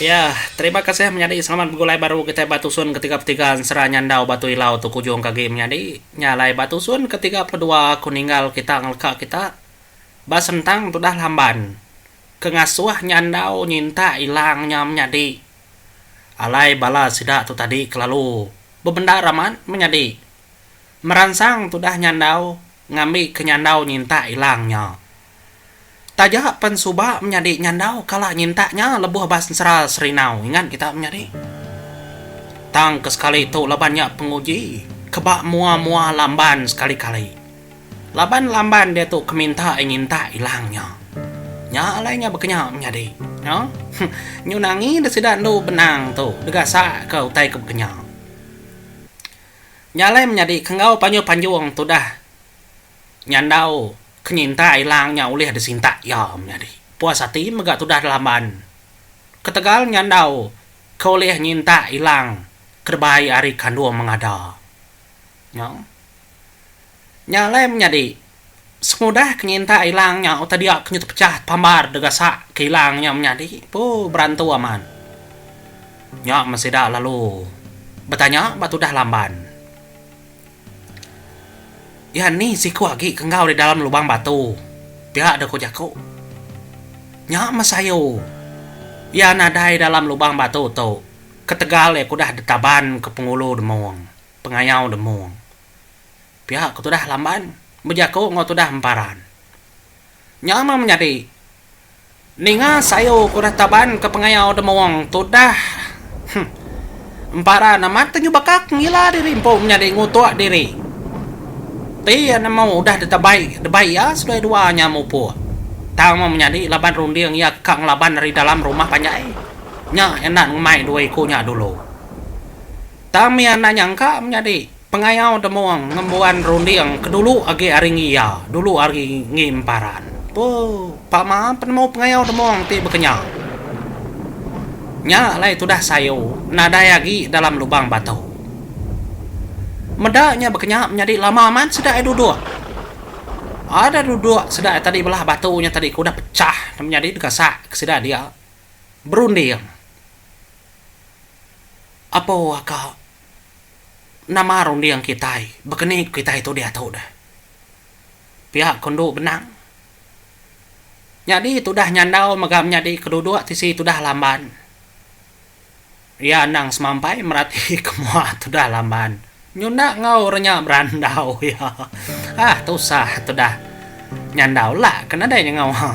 Iya, terima kasih menyadi selamat begulai baru kitai ba tusun ke tiga puluh tiga ensera nyandau batu ilau tu kujung ke agi menyadi nya alai ba tusun ke tiga puluh dua aku ninggal kita ngeleka kita ba sentang tudah lamban ke ngasuh nyandau nyintak ilang nya menyadi alai bala sida tu tadi kelalu bebendar amat menyadi meransang tudah nyandau ngambi ke nyandau nyintak ilang nya Taja pen suba menyadi nyandau kala nyintak nya lebuh ba sensera Serindau ingat kita menyadi. Tang ke sekali tu laban nya penguji ke ba mua-mua Lamban sekali-kali. Laban Lamban diatu ke minta ai nyintak ilang nya. Nya alai nya bekenya menyadi. Huh. Nyun angi deh sida endu benang tu degasak ke utai ke bekenya. Nya alai menyadi ke enggau panjung-panjung tudah Nyandau kenyinta ilang nya ulih disinta iya menyadi puas ati mega tudah dilamban. Ketegal nyandau ke ulih nyinta ilang ke dibai ari kandung mengada nya, nya alai menyadi sengudah kenyinta ilang nya utai dia ke nyetepechah pambar degasak ke ilang nya menyadi puh berantu amat. Nya men sida lalu betanya ba tudah lamban. Iya ni siku agi ke enggau di dalam lubang batu. Pia deh ku jaku. Nya meh sayu. Iya nadai dalam lubang batu tu ketegal iya kudah ditaban ke pengulu demung, pengayau demung. Pia ke tudah lamban bejaku enggau tudah emparan. Nya meh menyadi. Ninga sayur ke udah taban ke pengayau demung tudah huh emparan amat ke nyuba ka ngila diri empu menyadi ngutuk diri ti iya nemu udah ditabai debai iya seduai dua nya mupuk tang meh menyadi laban runding iya ka ngelaban ari dalam rumah panjai nya enda ngemai dua iku nya dulu tang mih anak nyangka menyadi. Pengayau Demung ngembuan runding ke dulu agi ari ngi iya, dulu ari ngi emparan. Puu. Pama penemu pengayau demung ti bekenya. Nya alai tudah sayu nadai agi dalam lubang batu. Meda nya bekenya menyadi lama amat sida ai duduk. Ada duduk sida ai tadi belah batu nya tadi ke udah pechah ne menyadi deka sak ke sida dia berunding. Apu aka nama runding kitai baka ni ku kitai tu diatu deh. Pia ko endu benang. Nyadi tudah nyandau mega menyadi ke duduk tisi tudah Lamban. Iya endang semampai merati ke mua tudah Lamban. Nyunda enggau orang nya berandau iya. Ah tusah tudah nyandau la ke nadai nya enggau ha.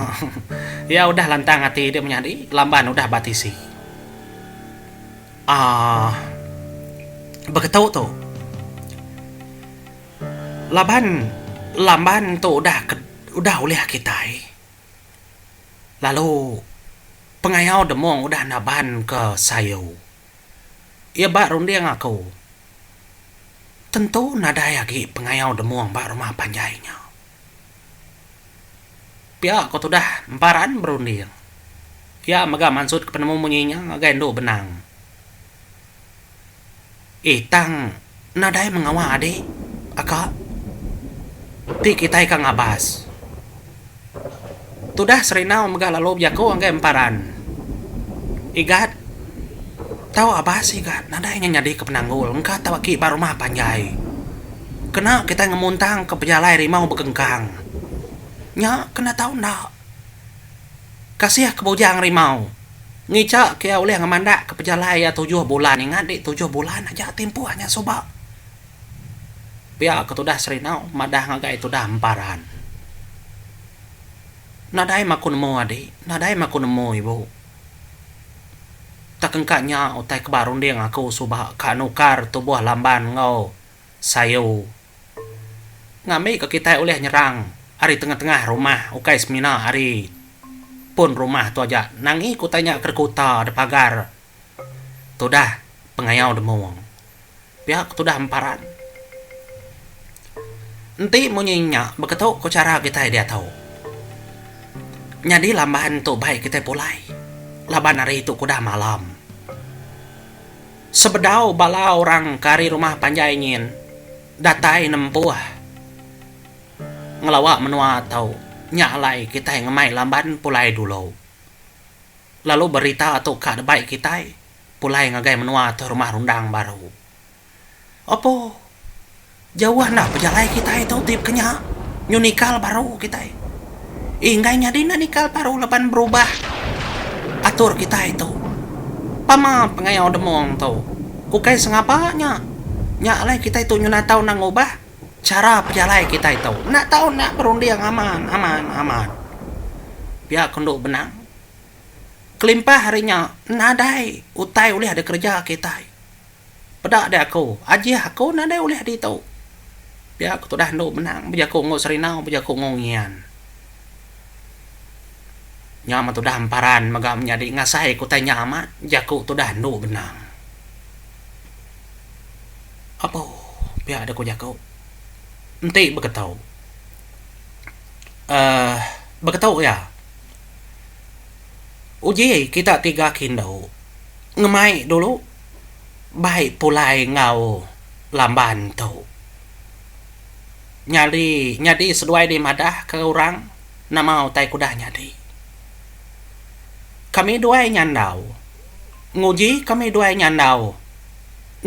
Iya udah lantang ati dia menyadi Lamban udah ba tisi. Aah. Beketu tu. Laban lamban tu udah ke udah ulih kitai. Lalu pengayau demung udah naban ke sayu. Iya ba runding aku. Tentu nadai agi pengayau demung ba rumah panjai nya. Pia ko tudah emparan berunding. Pia mega mansutka penemu munyi nya ngagai endu benang. Eh tang nadai mengawa adi aka ti kitai ka ngabas. Tudah Serinau mega lalu bejaku ngagai emparan. Igat tau abas igat nadai nya nyadika penanggul engka tau aki ba rumah panjai. Kena kitai ngemuntangka pejalai rimau bekengkang nya kena tau enda. Kasih ke bujang rimau ngicha ke iya ulih ngemandakka pejalai iya tujuh bulan ingat di tujuh bulan aja timpuh nya suba. Pia ke tudah Serinau madah ngagai tudah Emparan. Nadai maku nemu adi, nadai maku nemu ibu. Takengka nya utai ke ba runding aku suba ka nukar tubuh Lamban enggau. sayur ngambika kitai ulih nyerang ari tengah-tengah rumah ukai semina ari pun rumah tu aja nangi ku utai nya ke rekuta da pagar tudah pengayau demung pia ke tudah emparan. Enti munyi nya beketu ku chara kitai diatu nyadi lamban tu bai kitai pulai laban ari tu kudah malam. Sebedau bala orang ke ari rumah panjai nyin datai nempuh ngelawa menua tu, nya alai kitai ngemai lamban pulai dulu. Lalu berita tu ka debai kitai pulai ngagai menua tu rumah rundang baru. Opo. Jauh enda pejalai kitai tu ti pekenya nyu nikal baru kitai. Inggai nyadi enda nikal baru laban berubah atur kitai tu. Pama pengayau demung tu ukai sengapa nya. Nya alai kitai tu nyuna tau enda ngubah chara pejalai kitai tu. Enda tau enda berunding aman aman aman. Pia ku endo benang. Kelimpah ari nya nadai utai ulih dikereja kitai. Peda deh aku, ajih aku nadai ulih ditu. Pia aku tudah endu menang bejaku enggau Serindau bejaku enggau Ngian. Nya meh tudah emparan mega menyadi ngasai kutai nya amat jaku tudah endu benang. Apo pia deh ku jaku. Enti beketu uhh beketu iya. Uji kita tiga ke indu ngemai dulu. bai pulai enggau lamban tu nyadi nyadi seduai dih madah ke orang nama utai ke udah nyadi kami duai nyandau nguji kami duai nyandau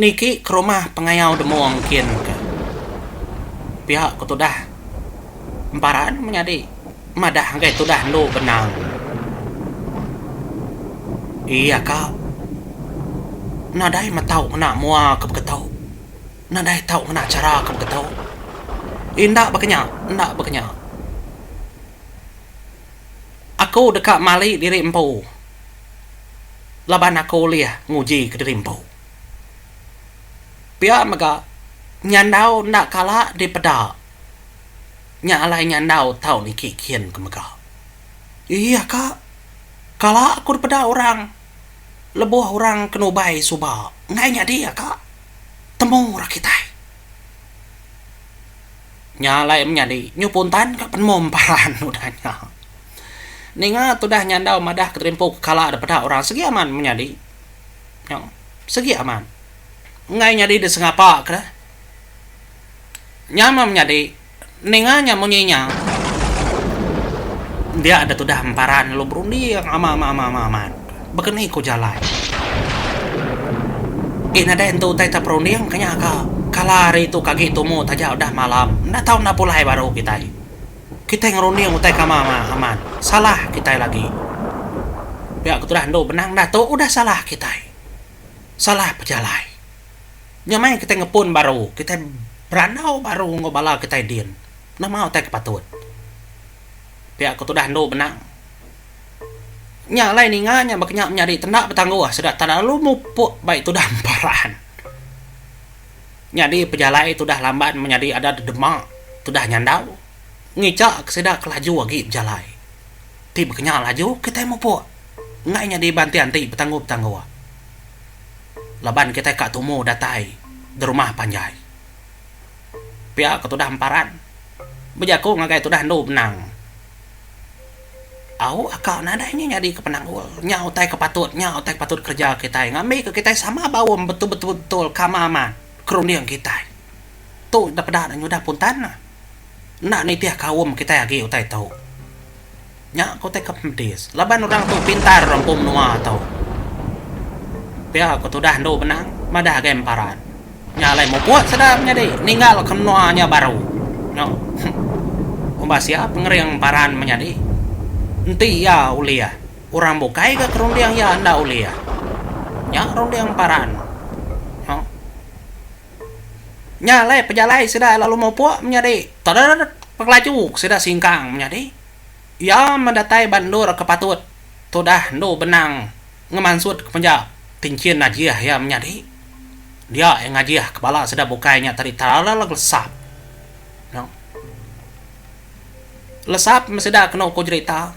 niki ke rumah pengayau demung kin ka pia ke tudah emparan menyadi Madah anggai tudah endu benang. Iya ka. Nadai meh tau ngena mua ke beketo. Nadai tau ngena chara ke beketo. Enda baka nya, enda baka nya. Aku deka mali diri empu laban aku ulih ngujika diri empu. Pia mega, nyandau enda kala dipeda Nya alai ngandau tau niki kin ke mega. Iya ka. Kala aku dipeda orang lebuh orang ke nubai suba enggai nyadi ka. Temu ra kitai. Nya alai menyadi nyu puntan ka penemu emparan udah nya. Ninga tudah nyandau madah keterimpu ke kala dipeda orang sigi amat menyadi. Nyau. Sigi amat. Enggai nyadi disengapa ke. Nya meh menyadi ninga nya munyi nya dia deh tudah emparan lalu berunding amat-amat-amat-amat-amat baka ni ku jalai. Ih nadai entu utai ta perunding ke nya ka kala hari tu ke agi tumu taja udah malam enda tau enda pulai baru kitai. Kitai ngerunding utai ke amat-amat-amat salah kitai lagi. Pia ke tudah endu benang dah tu udah salah kitai. Salah pejalai. Nya meh kitai ngepun baru, kitai berandau baru enggau bala kitai din. Nama utai ke patut? Pia ku tudah endu benang. Nya alai ninga nya baka nya menyadi tenda betangguh sereta tak lalu mupuk bai tudah emparan. Nyadi pejalai tudah lamban menyadi ada dedema tudah nyandau ngichaka sida ke laju agi bejalai. Ti baka nya laju kitai mupuk enggai nyadi banting ati betangguh-betangguh. laban kitai ka tumu datai derumah panjai. Pia ke tudah emparan, bejaku ngagai tudah endu benang. Au aka nadai nya nyadi ke penanggul, nya utai ke patut, nya utai ke patut kereja kitai ngambi ke kitai sama baum betul-betul kama amat ke runding kitai. Tu depeda nyudah puntan enda nitih kaum kitai agi utai tu. Nya ku ti ke pedis laban orang tu pintar empu menua tu. Pia ku tudah endu benang madah agai emparan. Nya alai muput sedar nyadi ninggal ke menua nya baru. Nya umbas iya pengering emparan menyadi enti iya ulih orang bukai ga ke runding iya enda ulih. Nya runding emparan. Nya nya alai pejalai sida lalu mupuk menyadi teret pengelaju sida singkang menyadi. Iya medatai ba endur ke patut tudah endu benang ngemansut ke penja. Tinchin najih iya menyadi. Dia iya ngajih ke bala sida bukai nya tadi teralal lesap. No. Lesap meh sida kenu ku jerita.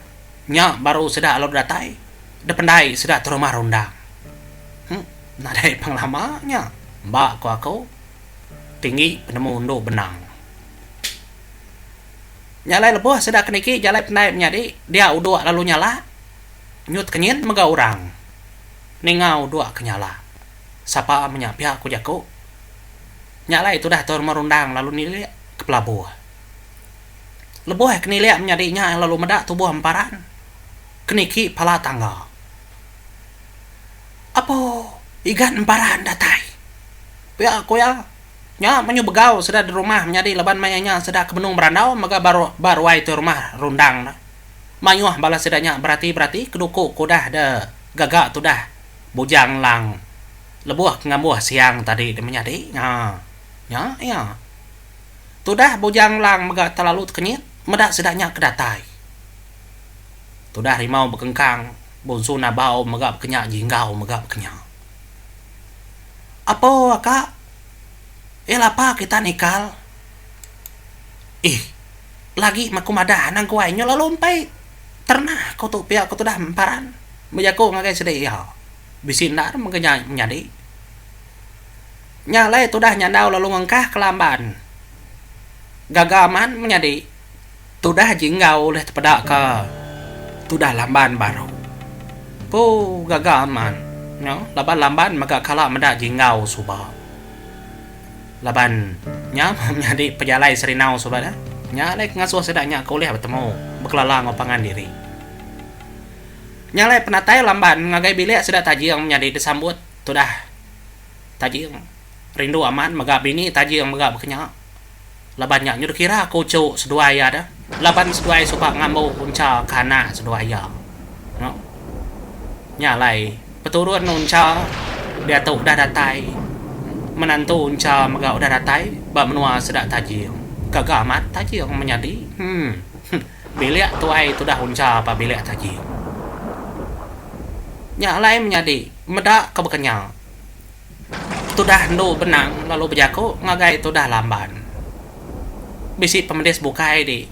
Nya baru sida lalu datai. Dependai sida terumah rundang. Huh. Nadai pang lama nya ba ku aku tinggi penemu endu benang. Jalai lebuh sida ke niki jalai pendai menyadi dia uduk lalu nyala nyut ke nyin mega orang ninga uduk ke nyala sapa menya pia ku jaku nya alai tudah tua rumah rundang lalu nilik ke pelabuh lebuh ke nilik menyadi nya lalu meda tubuh emparan ke niki pala tangga apo igan emparan datai pia ku iya. Nya menyu begau sida di rumah menyadi laban maya nya sida ke benung berandau mega ba ba ruai ti rumah rundang da. Mayuh bala sida nya berati berati keduku ke udah da gaga tudah bujang lang lebuh ke ngambuh siang tadi da menyadi nya nya iya. Tudah bujang lang mega telalu tekenyit meda sida nya ke datai. Tudah rimau bekengkang, bunsu nabau mega bekenya jinggau mega bekenya. Apo ka iya lapa kita nikal. Ih, lagi meh aku madah anang aku ai nyau lalu empai terna aku tu pia aku tudah empan bejaku ngagai sida iya. Bisi enda ne mega menyadi. Nya alai tudah nyandau lalu ngengkah ke lamban gaga man menyadi. Tudah aji enggau ulih tepeda ka tudah lamban baru. Empu gaga amat nya laban lamban mega kala meda ji enggau suba. Laban nya menyadi pejalai Serindau suba dah. Nya alai ke ngasuh sida nya ke ulih betemu bekelala enggau pangan diri. Nya alai penatai lamban ngagai bilik sida Tajing menyadi disambut tudah Tajing rindu amat mega bini Tajing mega bekenya. Laban nya nyu dikira ko uchu seduai iya da. Laban seduai suba ngambu uncha ke anak seduai iya. Nya. Nya alai peturun uncha diatu udah datai. Menantu uncha mega udah datai ba menua sida Tajing. Gaga amat Tajing menyadi. Hum. Bilik tuai tudah uncha ba bilik Tajing. Nya alai menyadi meda ke bekenya. Tudah endu benang lalu bejaku ngagai tudah lamban. Bisi pemedis bukai di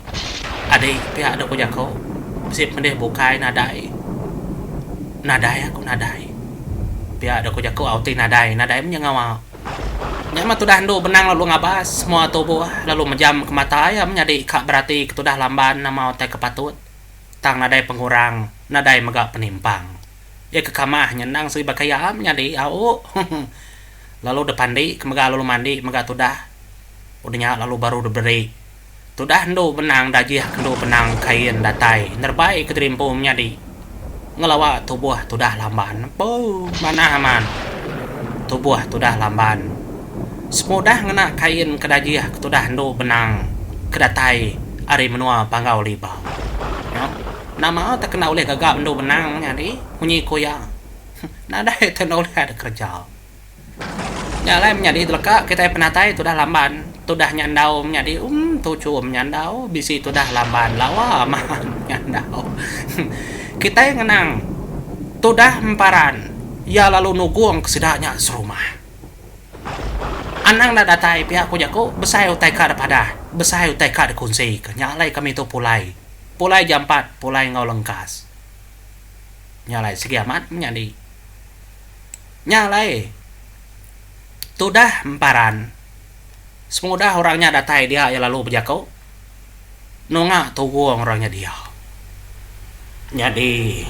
adi pia dok ku jaku bisi pemedis bukai nadai. Nadai aku nadai pia dok ku jaku au ti nadai nadai meh nyengau au. Nya mah tudah endu benang lalu ngabas semua tubuh lalu mejam ke mata iya meh nyadi ka berati ke tudah lamban amau tai ke patut tang nadai pengurang nadai mega penimpang. Iya ke kamah nya endang seri baka iya am nyadi au lalu da pandi ke mega lalu mandi mega tudah udah nya lalu baru da beri tudah endu benang dajih ke endu benang kain datai nerebai ke terimpu menyadi ngelawa tubuh tudah lamban bou manah amat tubuh tudah lamban semudah ngena kain ke dajih ke tudah endu benang ke datai ari menua Panggau Libau. Nama tak enda ulih gaga bendu benang nyadi munyi ku iya. Nadai tu enda ulih ada kereja. Nya alai menyadi teleka kitai penatai tudah lamban tudah nyandau menyadi um tuchu menyandau bisi tudah lamban lawa maan menyandau. Kitai ngenang tudah emparan iya lalu nugong ke sida nya serumah. Anang enda datai pia ku jaku besai utai ka dipadah besai utai ka dikunsika nya alai kami tu pulai. Pulai jampat pulai enggau lengkas. Nya alai sigi amat menyadi. Nya alai tudah emparan. Semudah orang nya datai dia iya lalu bejaku nunga tugung orang nya dia. Nyadi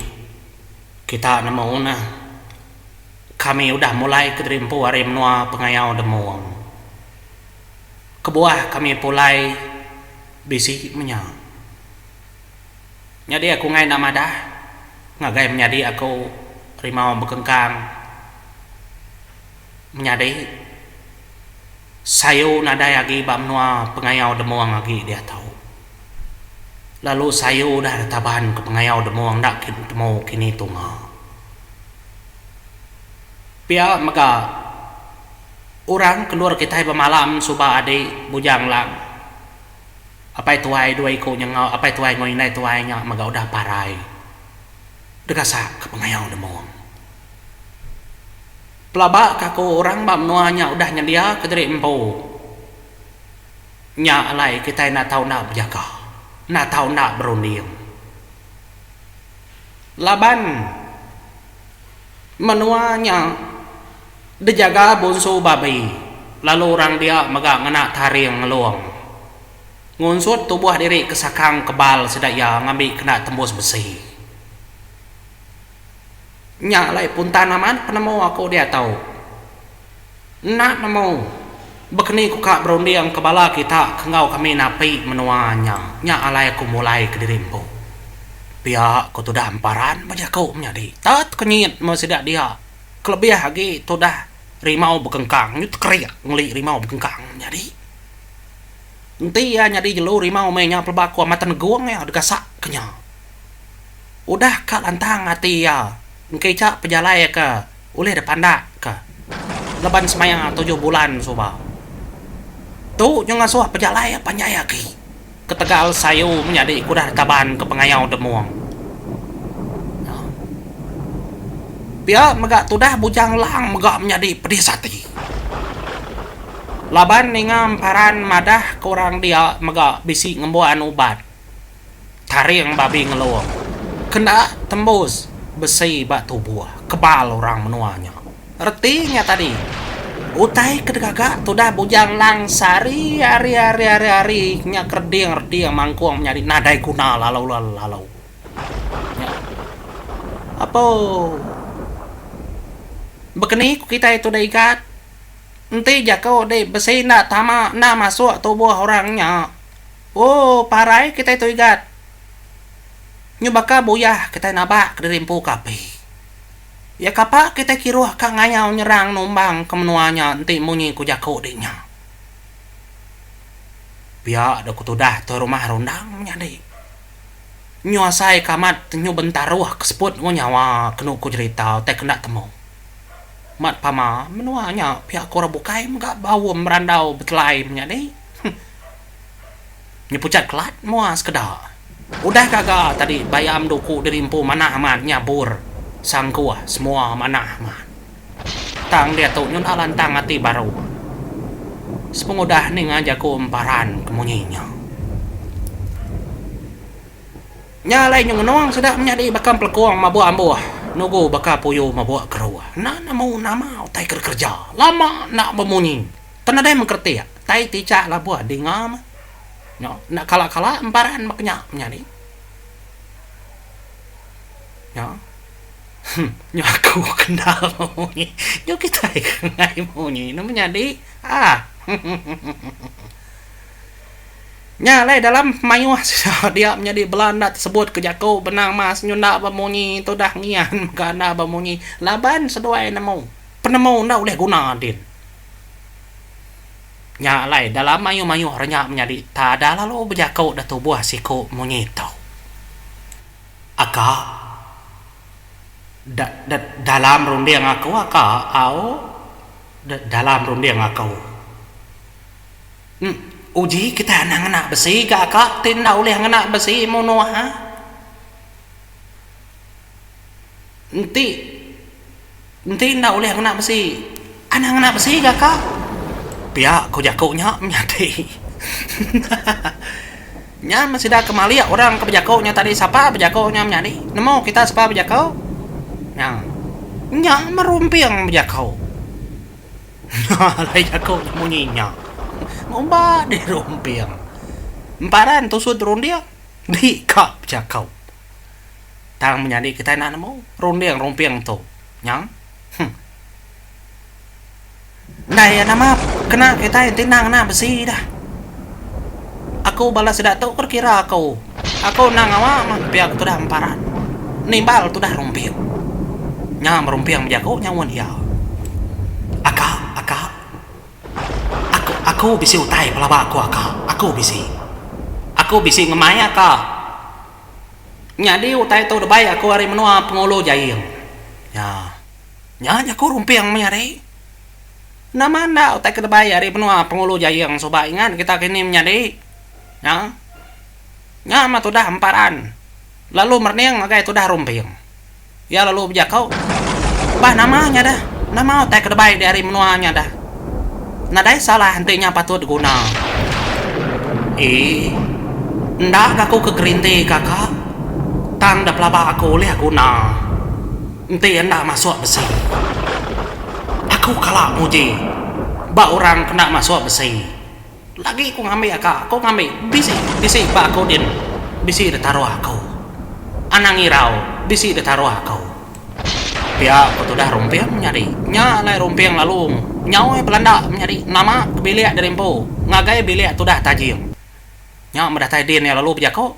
kita nemu neh kami udah mulai ke diri empu ari menua pengayau demung. Kebuah kami pulai bisi menya. Nyadi aku ngai enda madah ngagai menyadi aku rimau bekengkang menyadi sayu nadai agi ba menua pengayau demung agi diatu. Lalu sayu udah da taban ke pengayau demung enda temu kini tunga. Pia mega. Orang kelur kitai bemalam suba adi bujang lang apai tuai dua iku nya enggau apai tuai enggau indai tuai nya mega udah parai degasak ka pengayau demung. Pelaba ka aku orang ba menua nya udah nyendia ka diri empu. Nya alai kitai enda tau enda bejaga, enda tau enda berunding. Laban menua nya. Bejaga bonsu babi lalu orang dia mega ngena taring ngelung. Ngunsut tubuh diri ke sakang kebal sida iya ngambi kena tembus besi. Nya alai puntan amat penemu aku diatu. Enda nemu bekeni ku ka berunding ke bala kita ke enggau kami napi menua nya. Nya alai aku mulai kediri empu. Pia ku tudah emparan bejaku menyadi. Tet kenyit meh sida dia. Kelebih agi tudah rimau bekengkang nya tekerik ngeli rimau bekengkang nyadi. Enti iya nyadi jelu rimau meh nya pelaba ku Amat Tenegong iya degasak ke nya. Udah ka lantang ati iya engkica pejalai ke ulih dipandak ke leban semaya tujuh bulan suba. Tu nya ngasuh pejalai iya panjai agi. Ketegal sayu menyadi ke udah taban ke pengayau demung. Pia mega tudah Bujang Lang mega menyadi pedis ati. Laban ninga emparan madah ke orang dia mega bisi ngembuan ubat taring babi ngelong ke enda tembus besi ba tubuh kebal orang menua nya. Reti nya tadi, utai ke digaga tudah Bujang Lang sehari hari hari hari hari nya kereding reding mangkung menyadi nadai guna lalu lalu. Nya apouu. Bekeni ku kitai tudah igat, enti jaku dih besi enda tama enda masuk tubuh orang nya, ooh parai kitai tu igat. Nyubaka buyah kitai nabak kediri empu ke api. Iya kapa kitai kiruh ka ngayau nyerang numbang ke menua nya enti munyi ku jaku di nya. Pia dau ku tudah Toi Rumah Rundang menyadi. Nyu asai ke amat nyu bentaruh ke seput enggau nyawa kenu ku jerita utai ke enda temu. Mat pama menua nya pia ku orang bukai mega baum berandau betelai menyadi. Huh. Nya pucat kelat mua sekeda. Udah gaga tadi bayam tu ku diri empu manah amat nyabur sangkuh semua manah amat. Tang diatu nyudah lantang ati baru sepengudah ninga jaku emparan ke munyi nya. Nya alai nyu ngenung sida menyadi baka empelekung mabuk ambuh nugu baka puyu mabuk keruh. Enda nemu nama utai ke dikereja. Lama enda bemunyi. Tang nadai mengkertik tai tichak labuh dinga mah. Nyo enda kala-kala embaran meh kenya menyadi. Nyo huh nyo aku kendal munyi nyo kitai kengai munyi ne menyadi ah huhuhuhuh. Nya alai dalam mayuh sida dia menyadi bela enda tesebut ke jaku benang mas nyo enda ba munyi tudah ngian mega enda ba munyi laban seduai nemu penemu enda ulih guna din. Nya alai, dalam mayuh-mayuh renya menyadi, tada lalu bejaku da tubuh siku munyi tu. Aka. Da, da, dalam runding aku, aka, au, da, dalam runding aku. Em, uji kitai anang ngena besi ga aka ti enda ulih ngena besi munuh ha? Enti enti enda ulih ngena besi, anang ngena besi ga ka. Pia ko jako nya menyadi. Nya men sida ke malik orang ke bejako nya tadi sapa bejako nya menyadi nemu kita sapa bejako nya nya merumping bejako nya alai jako nya munyi nya ngumba dirumping emparan tusud runding di ka bejako. Tang menyadi kitai enda nemu runding rumping entu nya. Huh. Ndai iya nama kena kitai enti endang ena besi dah. Aku bala sida tu pun kira aku. Aku enda ngawa mah pia ke tudah emparan. Nimbal tudah rumping. Nya merumping bejaku nyaun iya. Aka, aka. Aku, aku bisi utai pelaba aku aka. Aku bisi. Aku bisi ngemai aka. Nyadi utai tu debai aku ari menua Pengulu Jaing. Nya. Nya jaku Rumping mih ari. Nama enda utai ke debai ari menua Pengulu Jaing suba ingat kita kini menyadi. Nya. Nya meh tudah emparan. Lalu merening ngagai tudah rumping. Iya lalu bejakau, Bah nama nya dah. Nama utai ke debai diari menua nya dah. Nadai salah enti nya patut diguna. Ee. Enda ga aku ke gerinti kaka. Tang da pelaba aku ulih guna. Enti enda masuk besi. Aku kala muji ba orang kena masuk besi. Enda agi aku ngambi aka, aku ngambi bisi, bisi ba aku din, bisi da taruh aku. Anang irau, bisi da taruh aku. Pia ku tudah Rumping menyadi. Nya alai Rumping lalu nyaoi belanda menyadi nama ke bilik diri empu ngagai bilik tudah Tajing. Nya medatai din iya lalu bejaku.